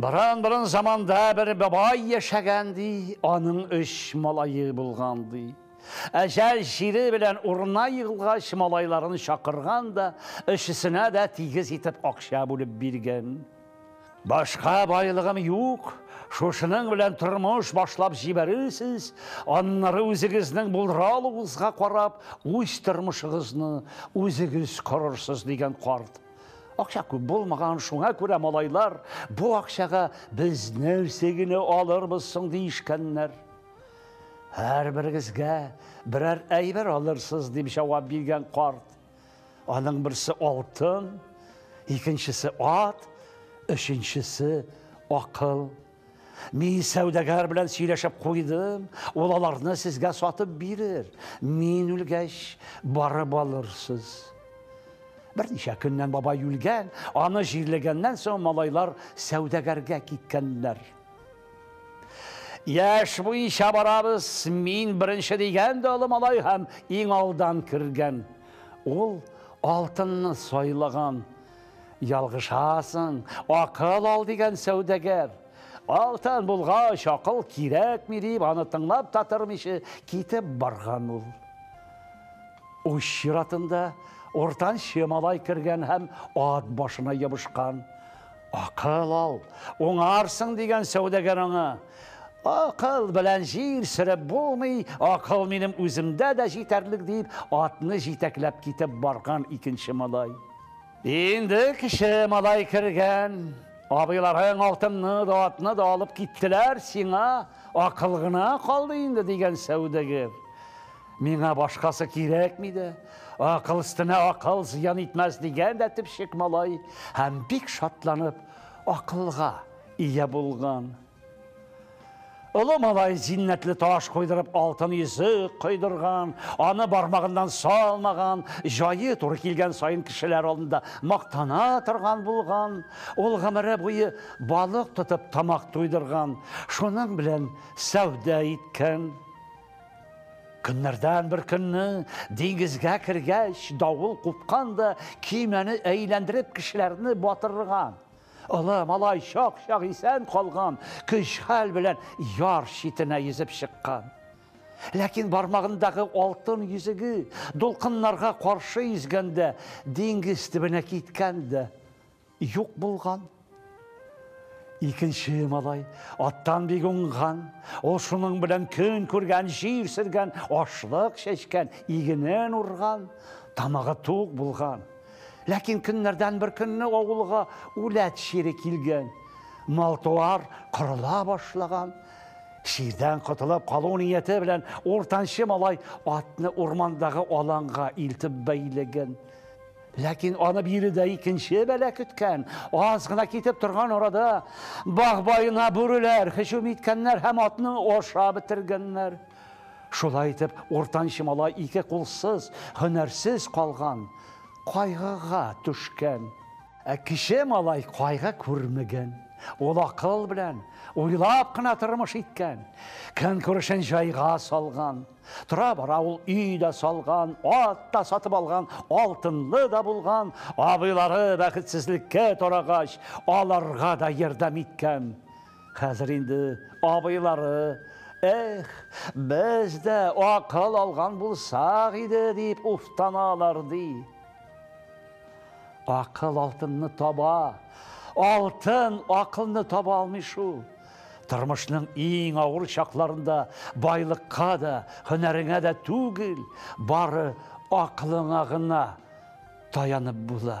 Борын-борын заманда бер бабай яшәгән, ди, аның өч малае булган, ди. Әҗәл җире белән урына егылгач, малайларын чакырган да, өчесенә дә тигез итеп акча бүлеп биргән. Башка байлыгым юк, шушының белән тормыш башлап җибәрерсез, аннары үзегезнең булдыралыгызга карап, үз тормышыгызны үзегез корырсыз, дигән карт. Акча күп булмаган, шуңа күрә малайлар бу акчага без нәрсә генә алырбыз соң дишкәннәр. Һәрберегезгә берәр әйбер алырсыз, дип җавап биргән карт. Аның берсе алтын, икенчесе ат, өченчесе акыл. Мин сәүдәгәр белән сөйләшеп куйдым, ул аларны сезгә сатып бирер. Мин үлгәч, барып алырсыз. Берничә көннән бабай үлгән, аны җирлегәннән соң малайлар сәүдәгәргә киткәннәр. Яш буенча барабыз, мин беренче дигән дә олы малай һәм иң алдан кергән. Ул алтынны сайлаган. Ялгышасың, акыл ал, дигән сәүдәгәр. Алтын булгач, акыл кирәкми, дип, аны тыңлап та тормыйча китеп барган ул. Уч чиратында уртанчы малай кергән һәм ат башына ябышкан. Акыл ал, уңарсың, дигән сәүдәгәр аңа. Акыл белән җир сөреп булмый, акыл минем үземдә дә җитәрлек, дип, атны җитәкләп китеп барган икенче малай. Инде кеше малай кергән. Абыйларың алтынны да, атны да алып киттеләр, сиңа акыл гына калды инде, дигән сәүдәгер. Миңа башкасы кирәкми дә, акыл өстенә акыл зыян итмәс, дигән дә төпчек малай һәм бик шатланып акылга ия булган. Олы малай зиннәтле таш куйдырып алтын йөзек куйдырган, аны бармагыннан салмаган, җае туры килгән саен кешеләр алдында мактана торган булган. Ул гомере буе балык тотып тамак туйдырган, шуның белән сәүдә иткән. Көннәрдән бер көнне диңгезгә кергәч, давыл купкан да көймәне әйләндереп кешеләрне батырган. Олы малай чак-чак исән калган, көч-хәл белән яр читенә йөзеп чыккан. Ләкин бармагындагы алтын йөзеге дулкыннарга каршы йөзгәндә диңгез төбенә киткән дә юк булган. Икенче малай аттан бик уңган, ул шуның белән көн күргән, җир сөргән, ашлык чәчкән, игенен урган, тамагы тук булган. Ләкин көннәрдән бер көнне авылга үләт чире килгән. Мал-туар кырыла башлаган. Чирдән котылып калу нияте белән уртанчы малай атны урмандагы аланга илтеп бәйләгән. Ләкин аны биредә икенче бәлә көткән. Аз гына китеп торган арада баг баена бүреләр һөҗүм иткәннәр һәм атны аша бетергәннәр. Шулай итеп, уртанчы малай ике кулсыз, һөнәрсез калган, кайгыга төшкән. Ә кече малай кайгы күрмәгән. Ул акыл белән, уйлап кына тормыш иткән. Көнкүрешен җайга салган. Тора-бара ул өй дә салган, ат та сатып алган, алтынлы да булган. Абыйлары бәхетсезлеккә тарагач, аларга да ярдәм иткән. Хәзер инде абыйлары, Эх, без дә акыл алган булсак иде, дип уфтаналар, ди. Акыл алтынны таба, алтын акылны таба алмый шул. Тормышның иң авыр чакларында байлыкка да, һөнәреңә дә түгел, бары акылыңа гына таянып була.